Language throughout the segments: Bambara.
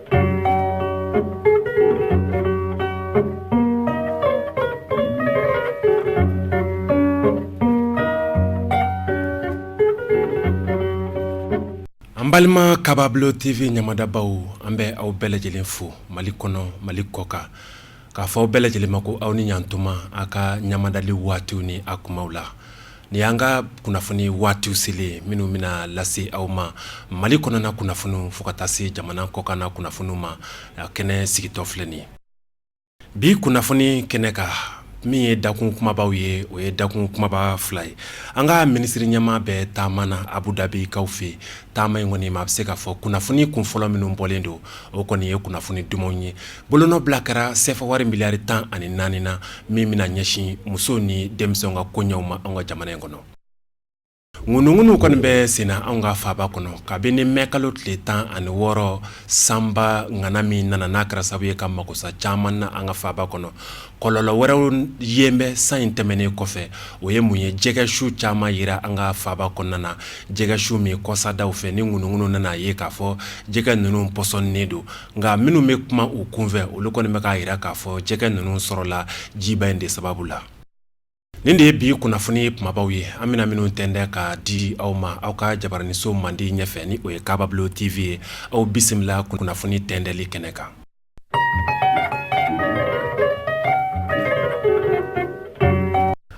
An balima kababulo tv ɲamadabaw an bɛ aw bɛɛ lajɛlen fo mali kɔnɔ mali kɔkan K'a fɔ aw bɛɛ lajɛlen ma ko aw ni ɲatuma a ka ɲamadali waatiw ni a kumaw la ni an ka kunnafoni waatiw selen minnu bɛna lase aw ma mali kɔnɔna kunnafoniw fo ka taa se jamana kɔkan na kunnafoniw ma kɛnɛ sigitɔ filɛ nin ye bi kunnafoni kɛnɛ ka min ye dakun kumabaw ye o ye dakun kumaba fila ye an ka minisiri ɲɛma bɛ taama na abu dabikaw fɛ taama in kɔni maa bɛ se k'a fɔ kunnafoni kun fɔlɔ minnu bɔlen don o kɔni ye kunnafoni dumanw ye Bolonɔ bila kɛra sefa wari miliyari tan ani naani na min bɛna ɲɛsin musow ni denmisɛnw ka koɲɛw ma an ka jamana in kɔnɔ ŋunuŋunu kɔni bɛ senna an ka faba kɔnɔ kabini mɛ kalo tile tan ani wɔɔrɔ sanba ŋana min nana n'a kɛra sababu ye ka makosa caman na an ka faba kɔnɔ kɔlɔlɔ wɛrɛw yen bɛ san in tɛmɛnen kɔfɛ o ye mun ye jɛgɛ su caman yera an ka faba kɔnɔna na jɛgɛ su min kɔsadaw fɛ ni ŋunuŋunu nana a ye k'a fɔ jɛgɛ ninnu pɔsɔnnen don Nka minnu bɛ kuma u kunfɛ olu kɔni bɛ k'a yira k'a fɔ jɛgɛ ninnu sɔrɔla jiba in de sababu la nin de ye bi kunnafoni kumabaw ye an bɛna minnu tɛntɛ ka di aw ma aw ka jabaraninso mandi ɲɛfɛ ni o ye kababilo tv ye aw bisimila kunnafoni tɛntɛli kɛnɛ kan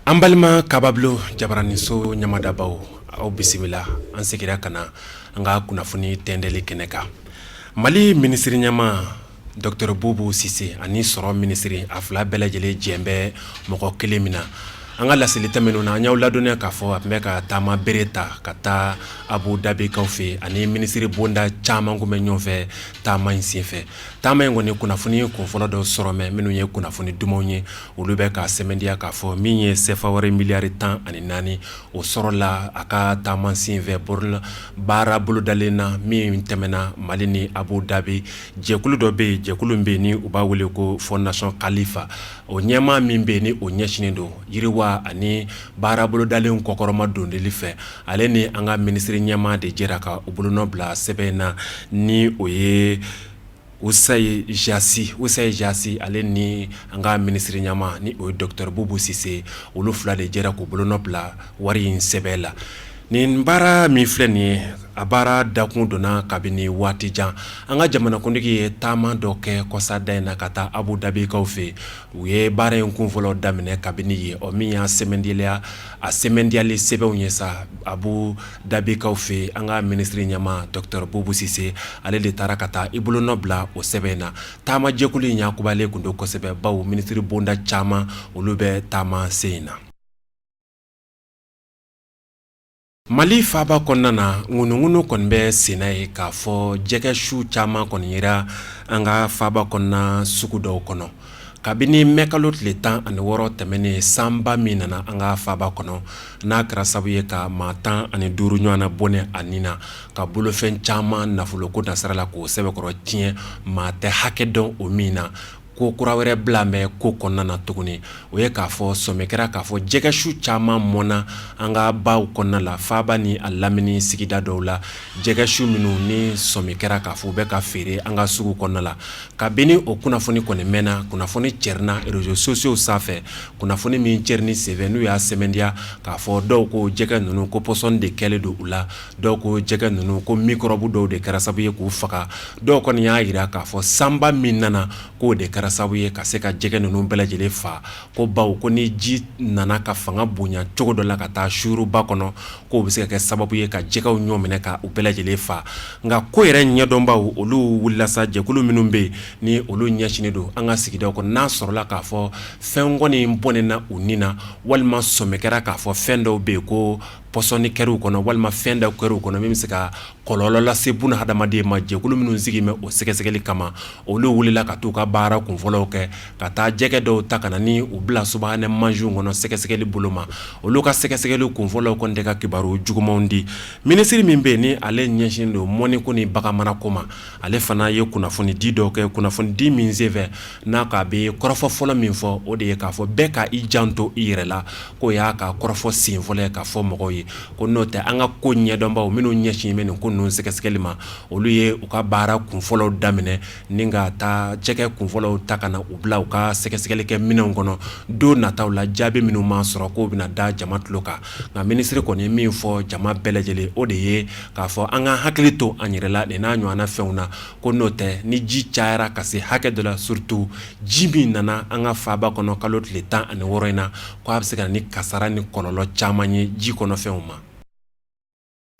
an balima kababilo jabaraninso ɲamadabaw aw bisimila an segira ka na an ka kunnafoni tɛntɛli kɛnɛ kan Mali minisiri ɲɛma dɔkitɛri bubu sise ani sɔrɔ minisiri a fila bɛɛ lajɛlen jɛn bɛ mɔgɔ kelen min na an ka laseli tɛmɛnenw na an y'aw ladɔnniya k'a fɔ a tun bɛ ka taama bere ta ka taa abu dabikaw fɛ ani minisiri bonda caman k'u bɛ ɲɔgɔn fɛ taama in senfɛ taama in kɔni kunnafoni kunfɔlɔ dɔ sɔrɔ mɛ minnu ye kunnafoni dumanw ye olu bɛ k'a sɛmɛntiya k'a fɔ min ye sefa wari miliyari tan ani naani o sɔrɔla a ka taama senfɛ baara bolodalen na min tɛmɛna mali ni abu dabi jɛkulu dɔ bɛ yen jɛkulu min bɛ yen ni u b'a wele ko fondation Khalifa o ɲɛmaa min bɛ yen ni o ɲɛsinnen don yiriwa ani baara bolodalen kɔkɔrɔma dondonli fɛ ale ni an ka minisiri ɲɛmaa de jɛra ka u bolonɔ bila sɛbɛn in na ni o ye usayi jasi usayi jasi ale ni an ka minisiri ɲɛma ni o ye dɔkitɛri bubu sise olu fila de jɛra k'u bolonɔ bila wari in sɛbɛn la nin baara min filɛ nin ye a baara dakun donna kabini waati jan an ka jamana kuntigi ye taama dɔ kɛ kɔsada in na ka taa abu dabikaw fɛ u ye baara in kun fɔlɔ daminɛ kabini yen o min y'a sɛmɛntiya A sɛmɛntiyali sɛbɛnw ye sa Abu Dabikaw fɛ an ka minisiri ɲɛmaa dɔgɔtɔrɔ Bubu Sise ale de taara ka taa i bolonɔ bila o sɛbɛn in na taamajɛkulu in yakubalen tun don kosɛbɛ bawo minisiri bonda caman olu bɛ taama sen in na mali faba kɔnɔna na ŋunuŋunu kɔni bɛ senna ye k'a fɔ jɛgɛ su caman kɔni yera an ka faba kɔnɔna sugu dɔw kɔnɔ kabini mɛ kalo tile tan ani wɔɔrɔ tɛmɛnen sanba min nana an ka faba kɔnɔ n'a kɛra sababu ye ka maa tan ani duuru ɲɔgɔnna bɔnɛ a nin na ka bolofɛn caman nafolo ko nasira la k'o sɛbɛkɔrɔ tiɲɛ maa tɛ hakɛ dɔn o min na ko kura wɛrɛ bila bɛ ko kɔnɔna na tuguni o ye k'a fɔ sɔmi kɛra k'a fɔ jɛgɛ su caman mɔnna an ka baw kɔnɔna la faba ni a lamini sigida dɔw la jɛgɛ su minnu ni sɔmi kɛra k'a fɔ u bɛ ka feere an ka sugu kɔnɔna la Kabini o kunnafoni kɔni mɛnna kunnafoni cɛrina réseaux sociaux sanfɛ kunnafoni min cɛrini senfɛ n'u y'a sɛmɛntiya k'a fɔ dɔw ko jɛgɛ ninnu ko pɔsɔni de kɛlen don u la dɔw ko jɛgɛ ninnu ko mikɔrɔbu dɔw de kɛra sabu ye k'u faga dɔw kɔni y'a jira k'a fɔ sanba min nana k'o de kɛra sabu ye ka se ka jɛgɛ ninnu bɛɛ lajɛlen fa ko bawo ko ni ji nana ka fanga bonya cogo dɔ la ka taa suuru ba kɔnɔ k'o bɛ se ka kɛ sababu ye ka jɛgɛw ɲɔminɛ ka u bɛɛ lajɛlen fa nka ko yɛrɛ ɲɛdɔnbaw olu wulila sa jɛkulu minnu bɛ yen ni olu ɲɛsinnen don an ka sigidaw kɔnɔ n'a sɔrɔla k'a fɔ fɛn kɔni bɔnɛna u ni na walima sɔmi kɛra k'a fɔ fɛn dɔw bɛ yen ko pɔsɔni kɛra u kɔnɔ walima fɛn dɔ kɛra u kɔnɔ min bɛ se ka kɔlɔlɔ lase buna hadamaden ma jɛkulu minnu sigi bɛ o sɛgɛsɛgɛli kama olu wulila ka taa u ka baara kunfɔlɔw kɛ ka taa jɛgɛ dɔw ta ka na ni u bila subahana mansinw kɔnɔ sɛgɛsɛgɛli bolo ma olu ka sɛgɛsɛgɛli kunfɔlɔw kɔni tɛ ka kibaru jugumanw di minisiri min bɛ yen ni ale ɲɛsin don mɔni ko ni bagan marako ma ale fana ye kunnafoni di dɔ kɛ kunnafoni di min senfɛ n'a k'a bɛ kɔrɔfɔ fɔlɔ min fɔ o de ye k'a fɔ bɛɛ ka i janto i yɛrɛ la k'o y'a ka kɔrɔfɔ sen fɔlɔ k'a fɔ mɔgɔw ye ko n'o tɛ an ka ko ɲɛdɔnbaw minnu ɲɛsin bɛ nin ko ninnu sɛgɛsɛgɛli ma olu ye u ka baara kunfɔlɔw daminɛ ni ka taa jɛgɛ kunfɔlɔw ta ka na u bila u ka sɛgɛsɛgɛli kɛ minɛnw kɔnɔ don nataw la jaabi minnu maa sɔrɔ k'o bɛna da jama tulo kan nka minisiri kɔni ye min fɔ jama bɛɛ lajɛlen o de ye k'a fɔ an ka hakili to an yɛrɛ la nin n'a ɲɔgɔnna fɛnw na ko n'o tɛ ni ji cayara ka se hakɛ dɔ la surtout ji min nana an ka faba kɔnɔ kalo tile tan ani wɔɔrɔ in na ko a bɛ se ka na ni kasara ni kɔlɔlɔ caman ye ji kɔnɔfɛnw ma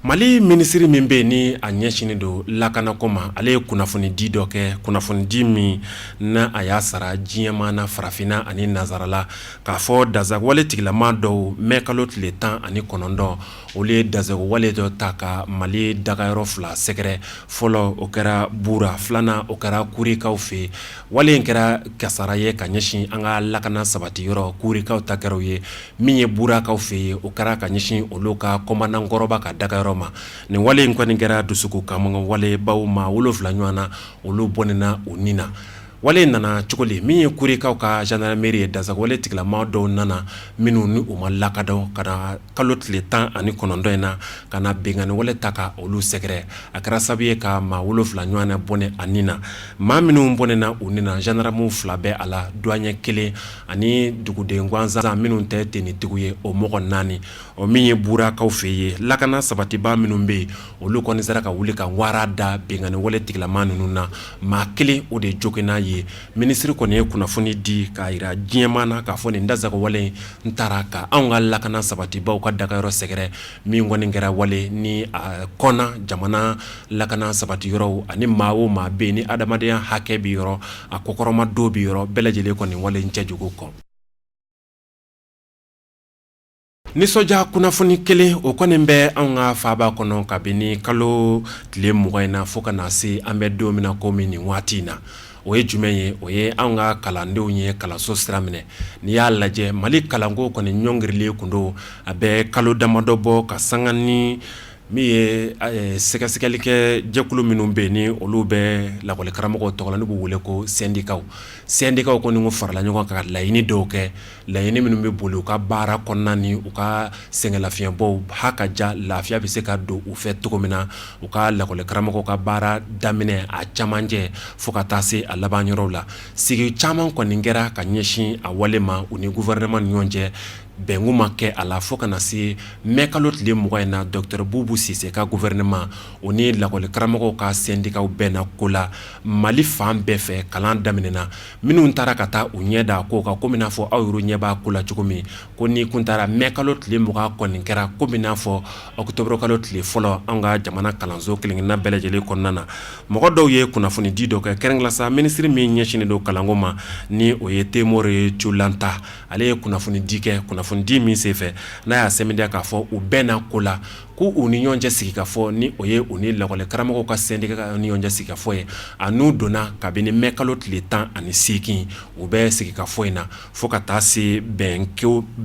mali minisiri min bɛ yen ni a ɲɛsinnen don lakanako ma ale ye kunnafoni di dɔ kɛ kunnafoni di min na a y'a sara diɲɛmaa na farafinna ani nansarala k'a fɔ dansagonwale tigilamaa dɔw mɛ kalo tile tan ani kɔnɔntɔn Olu ye dansagonwale dɔ ta ka mali daga yɔrɔ fila sɛgɛrɛ fɔlɔ o kɛra Bura filanan o kɛra Kurikaw fɛ wale in kɛra kasara ye ka ɲɛsin an ka lakana sabati yɔrɔ Kurikaw ta kɛra ye min ye Burakaw fɛ yen o kɛra ka ɲɛsin olu ka kɔmandankɔrɔba ka daga yɔrɔ ma nin wale in kɔni kɛra dusukun kamanagan wale bawo maa wolonwula ɲɔgɔn na olu bɔnɛna u ni na Wale nana cogo di min ye Kurikaw ka zandarameri ye dansagonwale tigilama dɔw nana minnu ni u ma lakodɔn ka kalo tile tan ani kɔnɔntɔn in na ka na binkanniwale ta ka olu sɛgɛrɛ a kɛra sababu ye ka maa wolonwula ɲɔgɔn na bɔnɛ a ni na maa minnu bɔnɛna u ni na zandaramu fila bɛ a la duwaɲɛ kelen ani duguden gansan minnu tɛ tenitigi ye o mɔgɔ naani o min ye Burakaw fɛ ye lakana sabatiba minnu bɛ yen olu kɔni sera ka wuli ka wara da binkanniwale tigilama ninnu na maa kelen o de joginna yen minisiri kɔni ye kunnafoni di k'a jira diɲɛ maa na k'a fɔ nin dansagonwale in tara ka anw ka lakana sabatibaw ka dagayɔrɔ sɛgɛrɛ min kɔni kɛra wale nin kɔnna jamana lakana sabati yɔrɔw ani maa o maa bɛ ni adamadenya hakɛ bɛ yɔrɔ a kɔkɔrɔmadon bɛ yɔrɔ bɛɛ lajɛlen kɔni wale cɛjugu kɔn nisɔndiya kunnafoni kelen o kɔni bɛ an ka faba kɔnɔ kabini kalo tile mugan in na fo ka na se an bɛ don min na kɔmi nin waati in na o ye jumɛn ye o ye an ka kalandenw ye kalanso sira minɛ n'i y'a lajɛ mali kalanko kɔni ɲɔngirilen kun don a bɛ kalo damadɔ bɔ ka sanga ni min ye sɛgɛsɛgɛli kɛ jɛkulu minnu bɛ ni olu bɛ lakɔlikaramɔgɔw tɔgɔ la n'u b'u wele ko sɛndikaw sɛndikaw kɔni farala ɲɔgɔn kan ka laɲini dɔw kɛ laɲini minnu bɛ boli u ka baara kɔnɔna ni u ka sɛgɛnlafiɲɛbɔw ha ka ja lafiya bɛ se ka don u fɛ cogo min na u ka lakɔli karamɔgɔw ka baara daminɛ a camancɛ fo ka taa se a laban yɔrɔ la sigi caman kɔni kɛra ka ɲɛsin a wale ma u ni guwɛrɛnɛman ni ɲɔgɔn cɛ bɛn kun ma kɛ a la fo ka na se mɛ kalo tile mugan in na dɔkitɛri Bubu Sise ka guwɛrɛnɛman u ni lakɔli karamɔgɔw ka sɛndikaw bɛnna ko la mali fan bɛɛ fɛ kalan daminɛna minnu taara ka taa u ɲɛ da ko kan kɔmi n'a fɔ aw yɛrɛ ɲɛ b'a ko la cogo min ko n'i kun taara mɛ kalo tile mugan kɔni kɛra kɔmi n'a fɔ ɔkutɔburu kalo tile fɔlɔ an ka jamana kalanso kelen-kelenna bɛɛ lajɛlen kɔnɔna na mɔgɔ dɔw ye kunnafonidi dɔ kɛ kɛrɛnkɛrɛnnenya la sa minisiri min ɲɛsinnen don kalanko ma ni o ye Temore Culanta ale ye kunnafonidi kɛ kunnafonidi min senfɛ n'a y'a sɛmɛntiya k'a fɔ u bɛnna ko la k' u ni ɲɔgɔn cɛ sigi ka fɔ ni o ye u ni lakɔli karamɔgɔw ka sɛndika ni ɲɔgɔn cɛ sigi ka fɔ ye a n'u donna kabini mɛ kalo tile tan ani segin u bɛ sigi ka fɔ in na fo ka taa se bɛn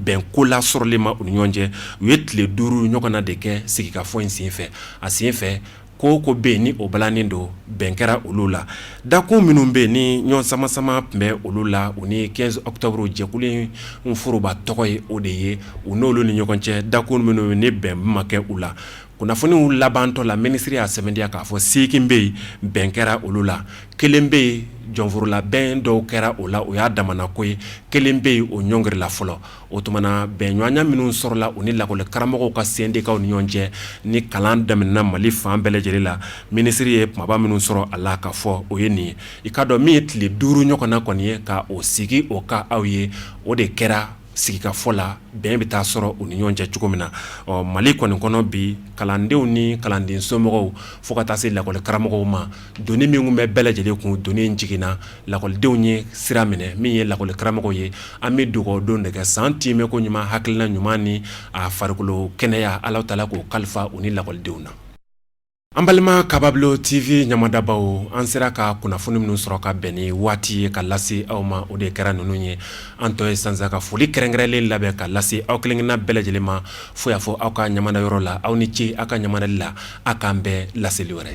bɛn ko la sɔrɔli ma u ni ɲɔgɔn cɛ u ye tile duuru ɲɔgɔn na de kɛ sigika fɔ in senfɛ a senfɛ ko ko bɛ ni o balannin don bɛn kɛra olu la dakun minnu bɛ ni ɲɔgɔn samasama tun bɛ olu la u ni quinze octobre jɛkulu in foroba tɔgɔ ye o de ye u n'olu ni ɲɔgɔn cɛ dakun minnu ni bɛn ma kɛ u la kunnafoniw labantɔ la minisiri y'a sɛmɛntiya k'a fɔ segin bɛ yen bɛn kɛra olu la kelen bɛ yen jɔnforola bɛn dɔw kɛra o la o y'a damana ko ye kelen bɛ yen o ɲɔngirila fɔlɔ o tuma na bɛnɲɔgɔnya minnu sɔrɔla u ni lakɔli karamɔgɔw ka sɛndikaw ni ɲɔgɔn cɛ ni kalan daminɛna mali fan bɛɛ lajɛlen la minisiri ye kumaba minnu sɔrɔ a la ka fɔ o ye nin ye i k'a dɔn min ye tile duuru ɲɔgɔn na kɔni ye ka o sigi o ka aw ye o de kɛra sigikafɔ la bɛn bɛ taa sɔrɔ u ni ɲɔgɔn cɛ cogo min na ɔ mali kɔni kɔnɔ bi kalandenw ni kalanden somɔgɔw fo ka taa se lakɔli karamɔgɔw ma doni min tun bɛ bɛɛ lajɛlen kun doni jiginna lakɔlidenw ye sira minɛ min ye lakɔli karamɔgɔw ye an bɛ dugawudon de kɛ san tiimɛ ko ɲuman hakilila ɲuman ni a farikolo kɛnɛya ala taala k'o kalifa u ni lakɔlidenw na an balima kababilo tv ɲamadabaaw an sera ka kunnafoni minnu sɔrɔ ka bɛn ni waati ye ka lase aw ma o de kɛra ninnu ye an tɔ ye sa ka foli kɛrɛnkɛrɛnlen labɛn ka lase aw kelenkelenna bɛɛ lajɛlen ma fo y'a fɔ aw ka ɲamadayɔrɔ la aw ni ce aw ka ɲamadali la aw k'an bɛn laseli wɛrɛ